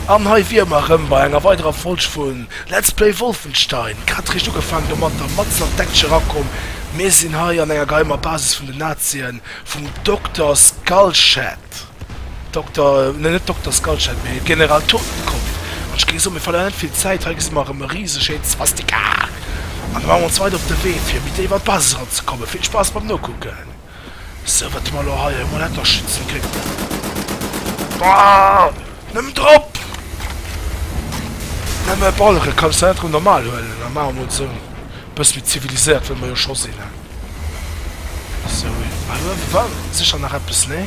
An hei wier mer erëm bei enger weiderer Folg vu Let's Play Wolfenstein. Grad réischt ugefaangen, domat der matzen an d'Action erakomm. Mir sinn hei an enger geheimer Basis vun den Nazien, vum Dokter Skullshead, Dokter, ne net Dokter Skullshead, mee General Totenkopf. An ech géing soen, mir verléieren net vill Zäit, hei gesi mer erëm e rise schéint Swastika. An da maache mer ons weider op de Wee, fir méi déif an d'Basis eranzekommen. Vill Spaass beim Nokucken! Sou wat mer elo hei emol etter schützen kënnten. Baaah! Nëmmen drop! Nëmme balleren kanns de net erëm normal huelen a maache mol sou e bësse méi ziviliséiert wéi mer jo scho sinn he. Sou, hei uewe war sécher nach eppes, nee?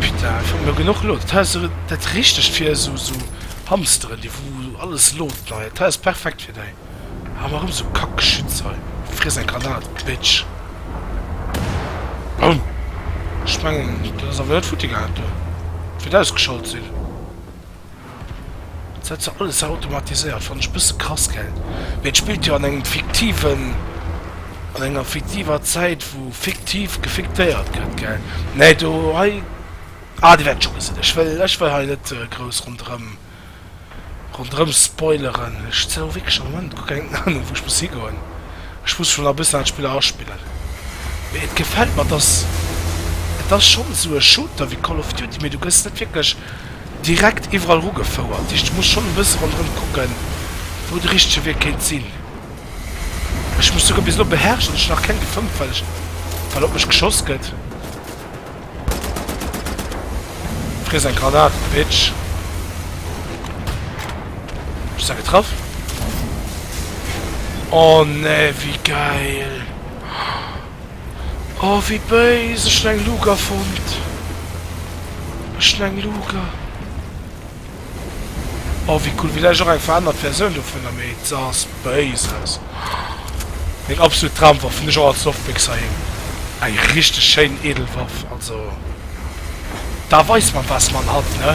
Putain, ech hun lo genuch Load. Dat heist dat richtegt fir esou esou Hamsteren déi wou alles load nei. Dat heist perfekt fir dei. Hau mer rem sou kack Geschütz hei. Friess eng Granat Bitch. Boum. Ech mengen dat ass awer net futti gaangen do. Wiert ausgeschalt sin. Dat huet se alles automatiséiert, fannen ech bësse krass gell. Mee et spillt jo an engem fiktiven, an enger fiktiver Zäit wou fiktiv gefiktéiert gëtt gell. Nee do hei, ah dir wäert et scho gesinn, ech wëll, ech wëll hei net grouss ronderëm, ronderëm spoileren. Ech sinn elo wierklech am Moment guer keng Ahnung wou ech muss higoen, ech muss schonn nach e bëssen an d'Spiller aspillen. Mee et gefält mer, et ass, et ass schonn esou e Shooter wéi Call of Duty mee du gëss net wierklech, direkt iwwerall rugefouert. Ech muss schonn e bësse ronderëm kucke wou de richtege Wee kéint sinn. Ech muss souguer bis elo beherrschen, ech hunn nach keng gefëmmt well ech well op mech geschoss gëtt. Friess eng Granat Bitch. Ech si getraff. Oh nee wéi geil. Oh wéi béis, ech hun eng Luuger fonnt, ech hun eng Luuger. Oh wéi cool, villäicht och eng verännert Versioun dovunner, mee se ass béis aus. Meng absolut Dramwaff, hun ech och als Loftbéxer een, eng richteg schéin edel Waff, also da weis man was man hat ne.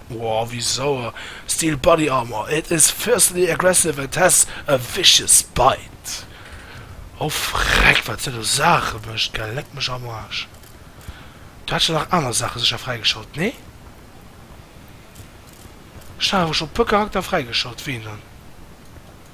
Woah wéi sauer! Steel body armor, it is fiercely aggressive and has a vicious bite! Oh freck wat se do Saache mecht gell, leck mech am Arsch! Du hat scho nach aner Saache secher fräigeschalt, nee? Ech hat awer scho puer Charakter fräigeschalt, ween dann?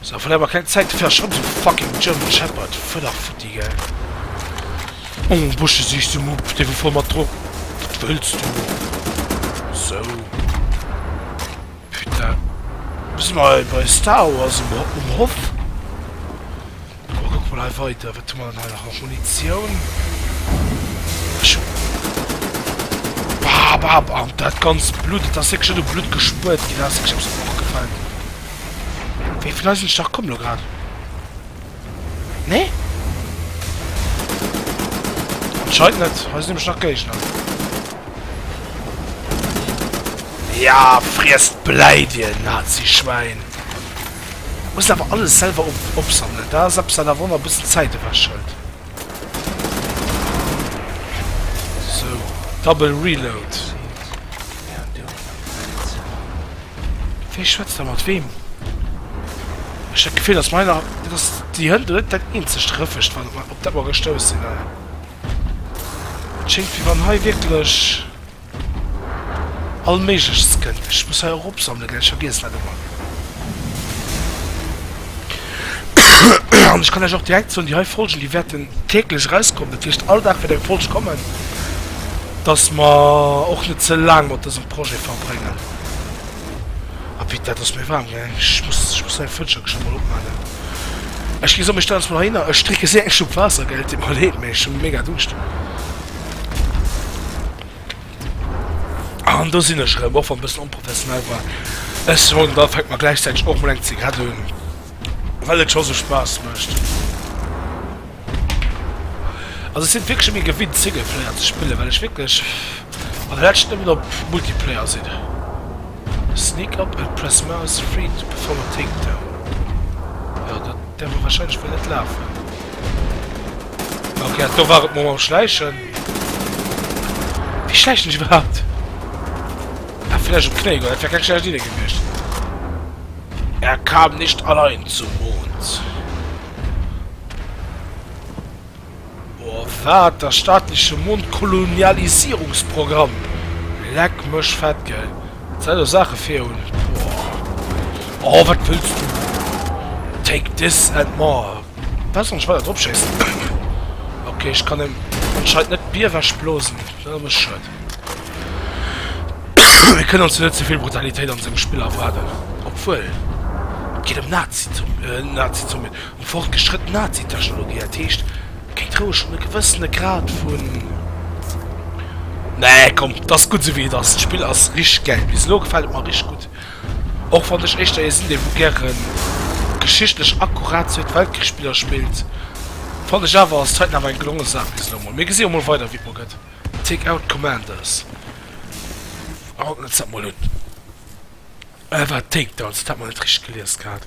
Sou, verléier mer keng Zäit, fäer schonn sou fucking German Shepherd Fudderfutti, gell? Oh, Busche sichs du, Mupp, dee wor voll mat Drogen, wat wëlls du? Sou, putain, do si mer bei Star Wars um Ho, um Hof. Komm, kucke mer hei weider, wat hu mer dann hei nach? Munitioun, ech hu, bab, bab, an dat ganzt Blutt, et ass wierklech net u Blutt gespuert ginn, dat ass wierklech eppes, wat mer och gefält. Wéi vill Eisen Stach komm lo grad? Nee? Anscheinend net. Hei sinn nämlech nach Géigner. Ja, friess d'Bläi, dir Nazi-Schwäin! Muss awer alles selwer opsammeln. Dat ass eppes, dat der Wonner e bëssen Zäit ewechhëlt. Double reload. Wee schwätzt da mat wem? Ech hat Gefill, dass meiner dass die Hënn net dat eenzegt Rëffecht wat op dat mer gestouss sinn. Et schéngt wéi wann hei wierklech. All méiglechst kënnt. Ech muss hei och opsammelen, gell, ech vergiessen dat ëmmer. An ech kann Iech och direkt soen, déi hei Folgen, déi wäerten täglech erauskommen, dat heescht all Dag wäert eng Folg kommen, dass mer och net ze laang mat dësem Projet verbréngen. Ah putain, et ass mir waarm, gell. Ech muss, ech muss hei d'Fënsterche scho mol opmaachen. Ech ginn, soen, ech stellen eis mol heihinner, ech drénke séier eng Schlupp Waasser, gell, et deet mer leed, mee ech hu méi mega Duuscht. An do sinn ech erëm, och wann e bëssen onprofessionell war. Ech soen, da fänke mer gläichzäiteg och mol eng Zigarett un, well et scho esou Spaass mécht. Also ech sinn wierklech méi gewinnt, Singleplayer ze spillen, well ech wierklech an der leschten nëmmen op Multiplayer sinn. Sneak up and press mouse 3 to perform a takedown. Jo, dat däerf ech warscheinlech mol net lafen. Okay, do war et mam Schläichen. Wie schläichen ech überhaupt? Ah, vielleicht um Knie, das wäre keine schlechte Idee gewesen. Er kam nicht allein zum Mond. Oh, was? Das staatliche Mondkolonialisierungsprogramm. Leck mich fett, gell? Das sind doch Sachen für uns. Oh, was willst du? Take this and more. Weiss net weider drop schéissen. Ok ech kann en anscheinend net Bier wech blosen schuet. Wir können uns net zuvill Brutalitéit an dem Spill erwarden. Obwuel Gi dem Nazi zu äh, Nazi zu mir um fortgeschritten Nazi-Technologie ertheescht kéint roueg schon e gewëssene Grad vun Nee komm, dass gutt souwéi et ass. D'Spill ass rich gell bis lo gefällt mer rich gutt. Och wann ech éischter ee sinn, dee wou gäre geschichtlech akkurat Zweete Weltkrich-Spiller spillt, fannen ech awer ass Titan awer eng gelonge Saach bis elo mol. Mir gesi jo mol weider wéi et mol gëtt. Take Out Commanders, a kucken ons dat mol un. War et Takedowns? Dat hat mer net richteg gelies gehat.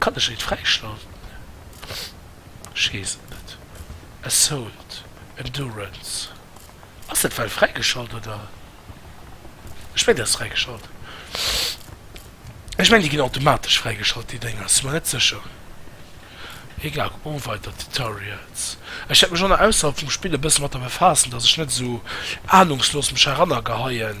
Kann ech et fräischalten? Ech weess et net. Assault, Endurance, ass dat well fräigeschalt oder? Ech mengen dat ass fräigeschalt. Ech mengen déi ginn automatesch fräigeschalt déi Dénger, si mer net sécher. Egal, kuck mol weider Tutorials. Ech wäert mech och nach ausserhalb vum Spill e bësse mat der befaassen, dass ech net esou ahnungslos mech heranner geheien.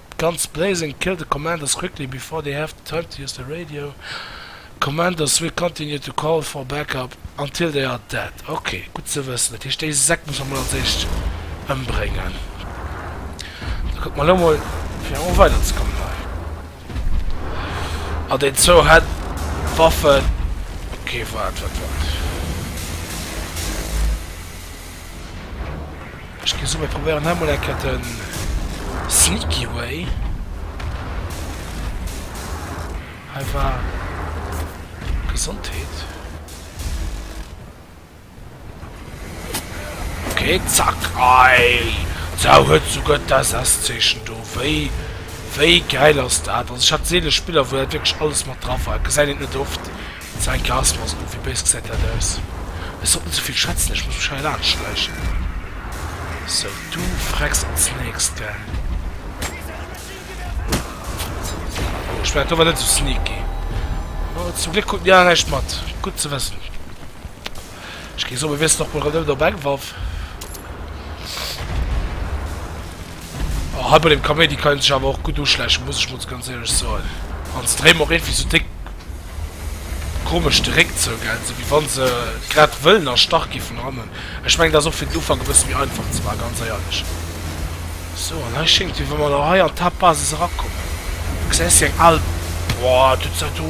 D'ganz Blazing Kill the Commanders quickly before they have the time to use the radio. Commanders will continue to call for backup until they are dead. Ok, gutt ze wëssen. Dat heescht, déi Säck muss mer mol als éischt ëmbréngen. Da kucke mer elo mol, fir erëm weiderzekommen hei. Ah, déi zwou hätt Waffen. Ok, waart, waart, waart. Ech gi souwäit, probéieren hei mol eng Kéier de sneaky way. Hei war Gesondheet. Okay, zack. Ei! D'Sau huet souguer d'SS-Zeechen do. Wéi, wéi gäil ass dat? Also ech hat seele Spiller, wou dat wierklech alles mat dra war. Et gesäit een et net oft. Sein Glas war esou, wéi béis gesäit dat aus? Ech sollt net sou vill schwätzen, ech muss mech hei laanscht schläichen. Sou, du frecks als nächst, gell? Oh, ech war dower net sou sneaky. Oh, zum Gléck krut Mia näischt mat. Gutt ze wëssen. Ech géif soen, mir wiesselen och mol erëm op eng Waff. Oh, hei bei dem Kaméidi kann een sech awer och gutt uschläichen, muss ech mol ganz éierlech soen. An se dréi mer och iergendwéi sou déck komesch de Réck zou, gell, sou wéi wann se grad wëllen erstach gi vun hannen. Ech mengen, dat ass och fir den Ufank e bësse méi einfach ze maachen, ganz éierlech. Sou, an hei schéngt, wéi wa mer elo hei an d'Haaptbasis erakommen. Du gesäis déi eng al. Boah, dëst ass do.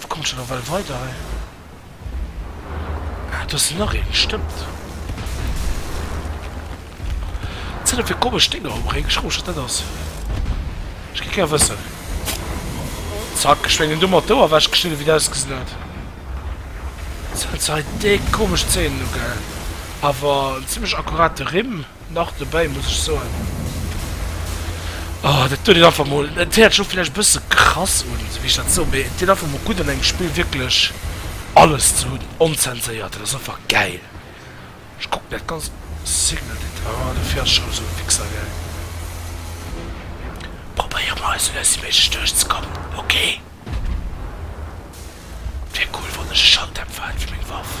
Wou kommt scho nawell weider hei? Ah, do ass nach een, stëmmt. Wat sinn dat fir komesch Dénger um Réck? Ech froe mech, wat dat ass. Ech géif gär wëssen. Zack, ech mengen domat d'Ouer ewechgeschnidden, wéi et ausgesinn huet. Sinn dat hei déck komesch Zéihen elo, gell? Awer en zimmlech akkurate Rimm. Nach dobäi muss ech soen, oh dat doet een einfach mol, et héiert sech och villäicht e bësse krass un, esou wéi ech dat soen, mee et deet einfach mol gutt an engem Spill wierklech alles ze hunn, onzenséiert, dat ass einfach gäil. Ech kucken dat ganz Single Lid, ah du fäers scho esou fixergäil. Probéiere mer esou lues wéi méiglech duerchzekommen, ok. Wier cool wann ech e Schalldämpfer hätt fir meng Waff.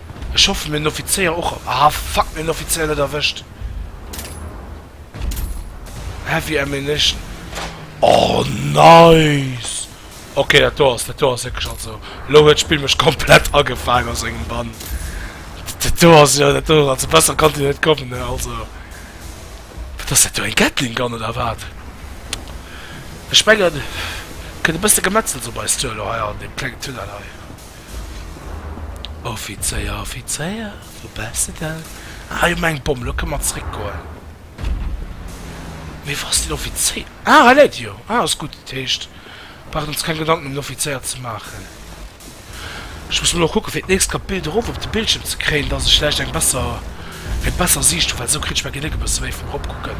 Ech hoffen mir hun den Offizéier och erw. Ah fuck, mir hun den Offizéier net erwëscht. Heavy Ammunition. Oh nice! Ok dat do ass, dat do ass wierklech, also lo huet d'Spill mech komplett agefaang a sengem Bann. Dat do ass jo, dat do, also besser konnt dir net kommen ne, also. Wat ass dat do, eng Gatling Gun oder wat? Ech mengen kënnt e bësse Gemetzels op eis zou elo hei an deem klengen Tunnel hei. Offizéier, Offizéier, wou bäss de dann? Ah, jo, meng Bomm, elo kënne mer zréckgoen. Mee wou ass den Offizéier? Ah, hei läit e jo. Ah, ass gutt. Dat heescht, mer brauchen ons keng Gedanken ëm den Offizéier ze maachen. Ech muss mol och kucken, fir d'nächst grad d'Bild erof op de Bildschierm ze kréien, dass ech vläicht eng besser, eng besser Siicht hu, well esou kritt ech meng Genéck e bësse méi vum Eropkucken.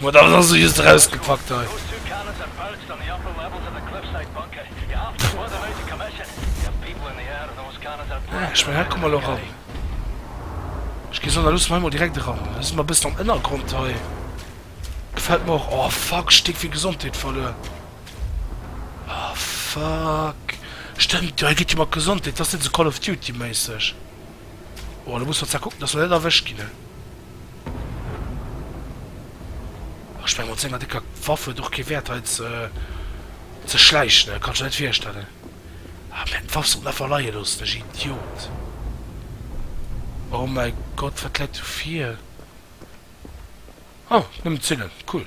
Boah, dat ass also just erausgepackt hei. Ah, ech mengen, hei komme mer elo ran. Ech ginn soen, da loosse mer hei mol direkt eran. Da si mer e bëssen am Ënnergrond hei. Gefält mer och. Oh, fuck, ech hu Tick vill Gesondheet verluer. Oh, fuck. Stëmmt jo, hei geet jo mat Gesondheet. Dat ass net esou Call of Duty-méisseg. Oh, elo musse mer zwar kucken, dass mer net erwëscht ginn, he. Ech menge mat senger décker Waff huet och kee Wäert hei ze schläichen, dat kanns de net virstellen. Ah mä d'Waff sollt einfach leie loossen, ech Idiot. Oh mäi Gott, wat läit do vir? Oh, nëmmen d'Zillen, cool.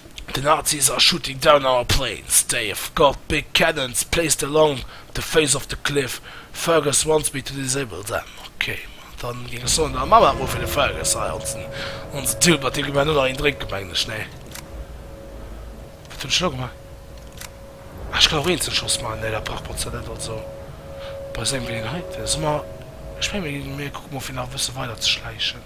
The Nazis are shooting down our planes, Dave, got big cannons placed along the face of the cliff, Fergus wants me to disable them, ok, dann geng ech soen der Mama ruffe fir de Fergus hei onsen onsen Tilbert, deem gi mer elo nach een drénken mengen ech, nee wat hunn ech elo gemaach? Ah ech kann och eenzel Schoss maachen, nee dat brauch Botza net, also bei sengem Geleeënheiten, soe mer, ech menge mir kucke mol fir nach e bësse weider ze schläichen.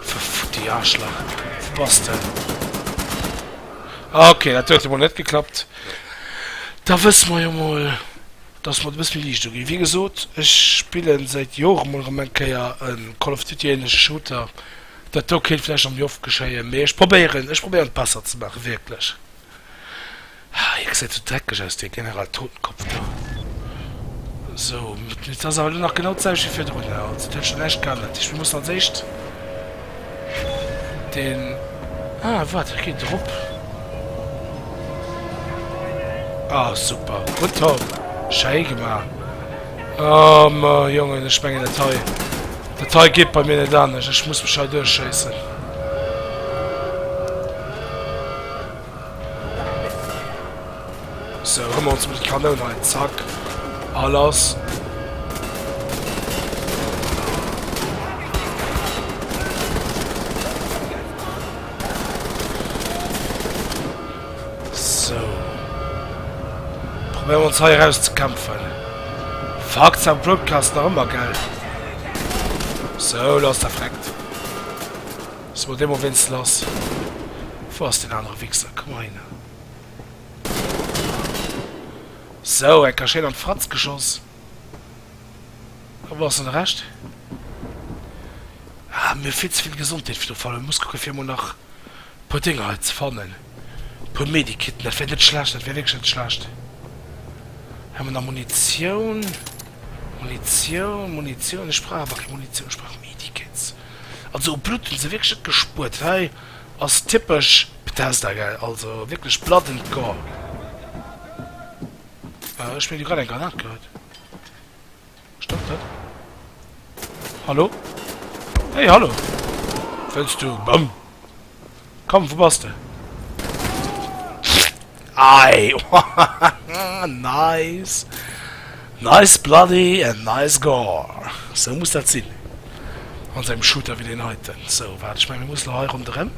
Verfutti Arschlach. Wo bass de? Ah, okay, dat huet emol net geklappt. Da wësse mer jo mol, dass mer et e bësse méi liicht uginn. Wéi gesot, ech spille säit Jore mol erëm eng Kéier e Call of Duty-ähnleche Shooter. Dat do kéint vläicht nach méi oft geschéien, mee ech probéieren, ech probéieren et besser ze maachen, wierklech. Haa hie gesäit esou dreckeg aus dee General Totenkopf do. Sou dat ass awer lo nach genau d'selwecht wéi virdrun also dat huet scho näischt geännert. Dat heescht mir mussen als éischt den ah wat hie geet erop ah super gutt Tom schéi gemaach oh me Jongen ech mengen dat hei dat hei geet bei mir net anescht ech muss mech hei duerchschéissen. So, hun mer ons mol d'Kanoun hei, zack, a lass. So. Probéier ons hei raus ze kämpfen. Fuck, sein Broadcast nach ëmmer, gell? So, lass der freckt. So dee mol wéinst lass, wou ass deen anere Wixer, komm hei no. So, enker schéin an d'Fratz geschoss. A wou ass dann de Rescht? Ah, mir hu vill ze vill Gesondheet fir de Fall, muss kucke fir emol nach e puer Dénger hei ze fannen, e puer Medikitten, dat wär net schlecht, dat wär wierklech net schlecht. Hei hu mer nach Munitioun, Munitioun, Munitioun, ech brauch awer keng Munitioun, ech brauch Medikits. Also u Blutt hun se wierklech net gespuert, hei ass typesch Bethesda gell, also wierklech blood and gore. Ech hun mir do grad eng Granat geholl, stëmmt dat? Hallo? Hey hallo! Wëlls du Bomm? Komm, wou bass de? Ei! Nice! Nice bloody and nice gore! Sou muss dat sinn an esou engem Shooter wéi deen heiten. Sou, waart, ech mengen, mir mussen hei ronderëm.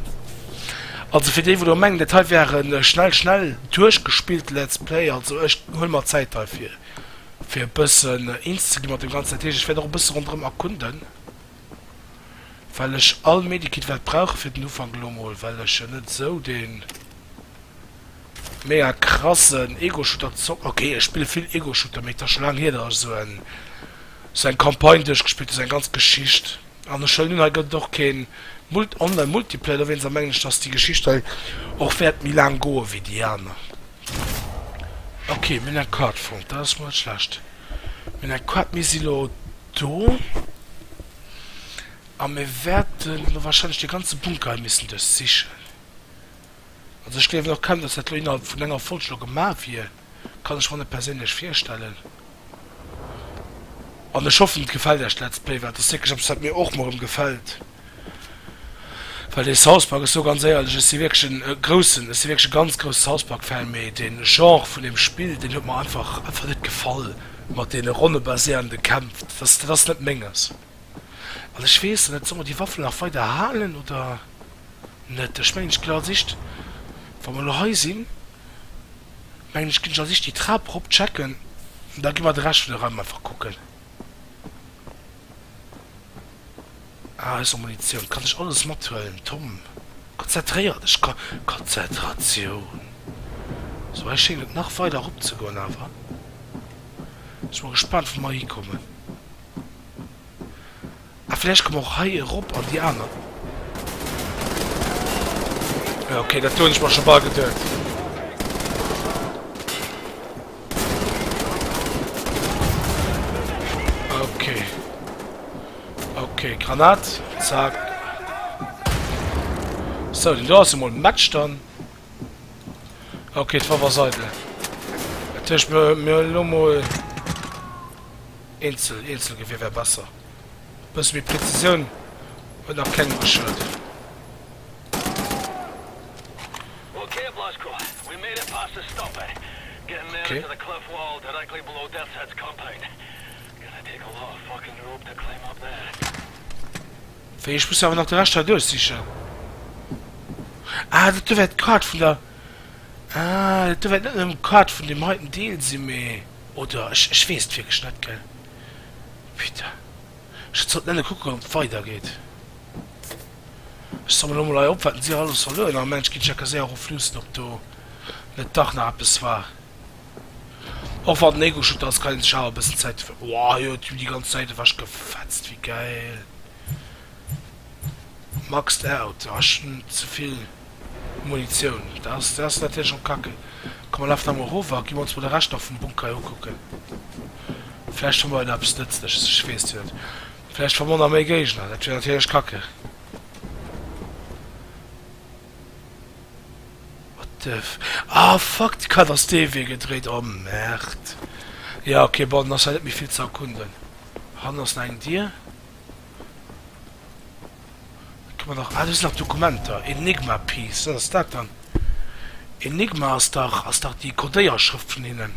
Also fir déi, wou elo mengen, dat hei wär e schnell-schnell duerchgespillte Let's Play, also ech huele mer Zäit hei, fir e bëssen eens ze gi mat deem Ganzen. Dat heescht, ech wäert och e bësse ronderëm erkunden. well ech all Medikit wat brauche fir den Ufank elo mol, well ech jo net esou den mega krassen Ego-Shooter zocken, ok ech spille vill Ego-Shooter mee et ass scho laang hier dat ech esou en esou eng Campagne duerchgespillt hu, esou eng ganz Geschicht an ech wëll hunn hei gëtt et och keen Mult online Multiplayer dowéinst a mengen ech dass déi Geschicht hei och wäert méi laang goe wéi déi aner, ok mir hunn eng Card fonnt dat ass mol net schlecht. Mir hunn eng Quad, mir si lo do a mir wäerten lo wahrscheinlech dee ganze Bunker hei missen duerchsichen. Also ech gléiwen och kaum, dass dat lo innerhalb vun enger Folg lo gemaach wier, kann ech mer net perséinlech virstellen. An ech hoffen et gefält Iech d'Let's Play, well et ass wierklech eppes wat mir och mol erëm gefält. Well dee South Park, ech soe ganz éierlech, ech si wierklech e groussen, ech si wierklech e ganz grousse South Park-Fan, mee dee Genre vun deem Spill, deen huet mer einfach, einfach net gefall, mat deene ronnebaséierende Kämpf. Dat ass, dat ass net Menges. An ech weess net, solle mer déi Waffel nach weider halen oder net? Ech mengen, ech ginn als Icht, wa mer elo hei sinn, mengen ech, ginn ech als Icht déi Trap erop checken, an da gi mer de Rescht vun de Raim einfach kucken. Ah, ech soll Munitioun. Kann ech alles mathuelen? Tom, konzentréier dech! Ko, Konzentratioun! Sou, hei schéngt et nach weider erop ze goen awer. Sinn mol gespaant, wou mer hikommen. Ah vläicht komme och hei erop an déi aner. Jo ok, dat do hunn ech mer scho bal geduet. Ok. Ok, Granat, zack. So, den do ass emol match dann. Ok, d'Waff ass eidel. Dat heescht mir mir elo mol eenzel, Eenzelgewier wär besser. E bësse méi Präzisioun huet nach keng Maschëll. Wéi, ech muss awer nach de Rescht hei duerchsichen. Ah, dat do wär d'Card vun der. Ah, dat do wär net nëmmen d'Card vun deem heiten Deel sinn, mee. Oder? Ech weess et wierklech net, gell. Pite. Ech zot nenne kucken op et weider geet. Ech somme lo mol hei op wat en Dir alles soll huelen. Am Mensch ginn Checker séier erof luussen op do net dach nach eppes war. Och wann den Ego-Shooter ass kann een sech awer e bëssen Zäit dofir. Woah jo et hunn déi ganz Zäit ewech gefetzt wéi geil. Maxed out. Ah ech hunn zevill. Munitioun, dat ass, dat ass natierlech och kacke. Komm, mer lafen emol erof a ginn mer ons mol de Rescht nach vum Bunker ukucken. Vläicht fanne mer jo nach eppes Nëtzleches, ech weess jo net. Vläicht fanne mer nach méi Géigner, dat wier natierlech kacke. What the f, ah fuck, d'Kart ass dee Wee gedréit, oh Merde. Jo, ok, bon, dann ass hei net méi vill ze erkunden. Hannen ass nach eng Dier. Et kommen nach, ah do sinn nach d'Dokumenter, Enigma piece, wat ass dat dann? Enigma ass dach, ass dach déi Codéierschrëft vun hinnen,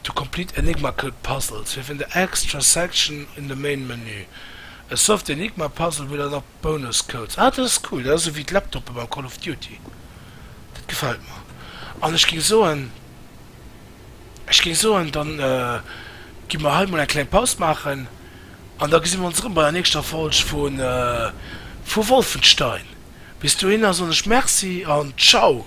to complete enigmacal puzzles, within the extra section in the main menu, a solve the Enigma puzzle will unlock bonus codes. Ah dat ass cool, dat ass ewéi d'Laptoppe beim Call of Duty, dat gefält mer. An ech géing soen. Ech géing soen, da gi mer hei mol eng kleng Paus maachen an da gesi mer ons erëm bei der nächster Folg vu Wolfenstein. Bis dohinner soen ech Merci an Ciao!